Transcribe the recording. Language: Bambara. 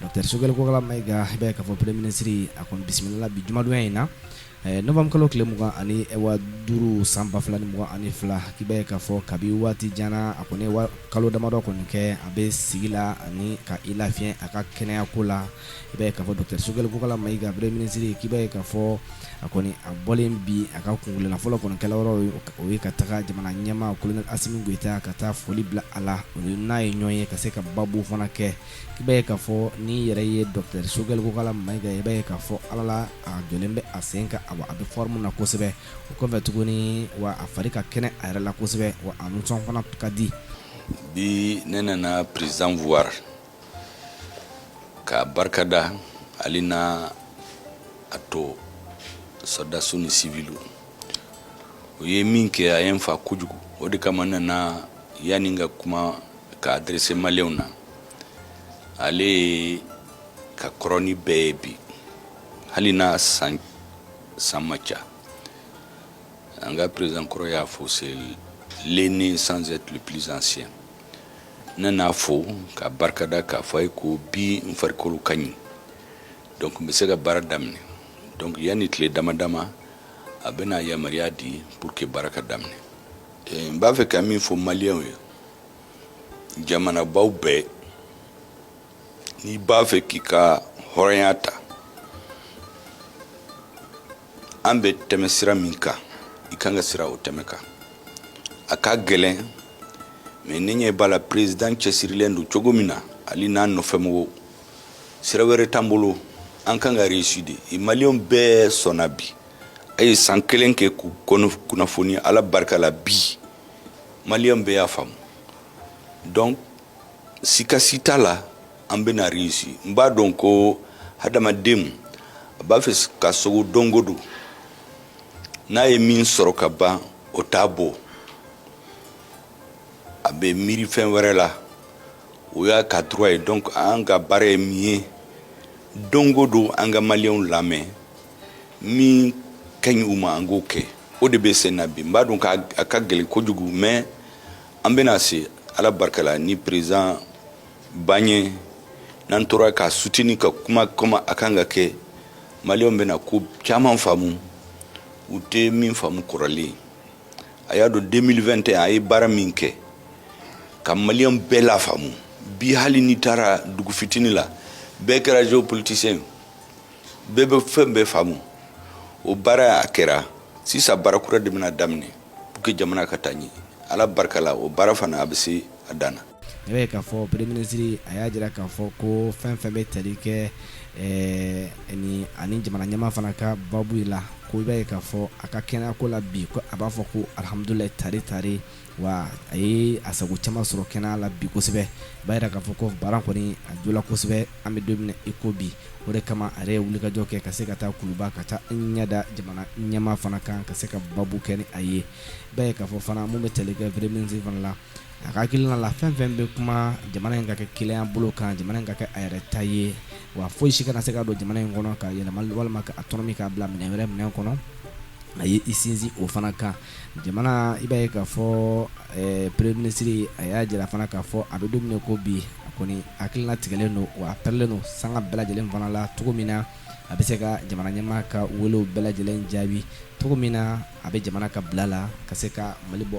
Docteur Sogɛli Kokala Mayiga i b'a ye k'a fɔ Premier Ministre a kɔni bisimilala bi jumadonya in na novembre kalo tile 25 san 2022 i b'a ye k'a fɔ kabi waati jan na a kɔni ye kalo damadɔ kɔni kɛ a bɛ sigi la ani ka i lafiɲɛ a ka kɛnɛya ko la i b'a ye k'a fɔ Docteur Sogɛli Kokala Mayiga Premier Ministre i b'a ye k'a fɔ a kɔni a bɔlen bi a ka kuntilenna fɔlɔ kɔni kɛla yɔrɔ ye o ye ka taga jamana ɲɛmaa Colonel Asimi Goyita ka taa foli bila a la o n'a ye ɲɔgɔn ye ka se ka baabu fana kɛ i b'a ye k'a fɔ n'i yɛrɛ ye Docteur Sogɛli Kokala Mayiga ye i b'a ye k'a fɔ ala la a jɔlen bɛ a sen kan awa a bɛ forme na kosɛbɛ o kɔfɛ tuguni wa a fari ka kɛnɛ a yɛrɛ la kosɛbɛ wa a nisɔn fana ka di bi ne nana président voir ka barika da ale n'a tɔ sɔrɔdasiw ni siviliw o ye min kɛ a ye n fa kojugu o de kama n nana yanni n ka kuma ka adresser maliyɛnw na ale ka kɔrɔ ni bɛɛ ye bi hali n'a san ma ca an ka président kɔrɔ y'a fɔ c'est l'aîné sans être le plus ancien ne n'a fo k'a barika da k'a fɔ a ye ko bi n farikolo ka ɲi donc n bɛ se ka baara daminɛ donc yanni tile dama dama a bɛna yamaruya di pour que baara ka daminɛ n b'a fɛ ka min fɔ maliyɛnw ye jamanabaw bɛɛ n'i b'a fɛ k'i ka hɔrɔnya ta an bɛ tɛmɛ sira min kan i kan ka sira o tɛmɛ kan a ka gɛlɛn mais ne ɲɛ b'a la président cɛsirilen don cogo min na ale n'a nɔfɛmɔgɔw sira wɛrɛ t'an bolo an kan ka réussir de maliyɛnw bɛɛ sɔnna bi a ye san kelen kɛ k'u kunnafoni ala barika la bi maliyɛnw bɛɛ y'a faamu donc sika si t'a la an bɛna réussir n b'a dɔn ko hadamadenw a b'a fɛ ka sogo don go don n'a ye min sɔrɔ ka ban o t'a bɔ a bɛ miiri fɛn wɛrɛ la o y'a ka droit ye donc an ka baara ye min ye don go don an ka maliyɛnw lamɛn min ka ɲi u ma an k'o kɛ o de bɛ sen na bi n b'a dɔn k'a ka gɛlɛn kojugu mais an bɛna se ala barika la ni président b'an ɲɛ n'an tora k'a soutenir ka kuma comme a kan ka kɛ maliyɛnw bɛna ko caman faamu u tɛ min faamu kɔrɔlen a y'a dɔn 2021 a ye baara min kɛ ka maliyɛnw bɛɛ lafaamu bi hali n'i taara dugu fitini la bɛɛ kɛra géopoliticien ye bɛɛ bɛ fɛn bɛɛ faamu o baara a kɛra sisan baara kura de bɛna daminɛ pour que jamana ka taa ɲɛ ala barika la o baara fana a bɛ se a dan na i b'a ye k'a fɔ premier ministre a y'a jira k'a fɔ ko fɛn fɛn bɛ tali kɛ ɛɛ ni ani jamana ɲɛmaa fana ka babu la ko i b'a ye k'a fɔ a ka kɛnɛyako la bi ko a b'a fɔ ko alihamudulilayi tari tari Wa a ye a sago caman sɔrɔ kɛnɛya la bi kosɛbɛ i b'a jira k'a fɔ ko baara kɔni a jɔla kosɛbɛ an bɛ don min na i ko bi o de kama a ye wulikajɔ kɛ ka se ka taa kuluba ka taa ɲɛ da jamana ɲɛmaa fana kan ka se ka babu kɛ ni a ye i b'a ye k'a fɔ fana minnu bɛ tali kɛ premier ministre fana la a ka hakilina la fɛn fɛn bɛ kuma jamana in ka kɛ kelenya bolo kan jamana in ka kɛ a yɛrɛ ta ye wa foyi si kana se ka don jamana in kɔnɔ k'a yɛlɛma walima ka a tɔnɔmi k'a bila minɛn wɛrɛ minɛn kɔnɔ a ye i sinsin o fana kan Jamana i b'a ye k'a fɔ premier ministre a y'a jira fana k'a fɔ an bɛ don min na ko bi a kɔni hakili latigɛlen don wa a pɛrɛlen don sanga bɛɛ lajɛlen fana la cogo min na a bɛ se ka jamana ɲɛmaa ka welew bɛɛ lajɛlen jaabi cogo min na a bɛ jamana ka bila la ka se ka mali bɔ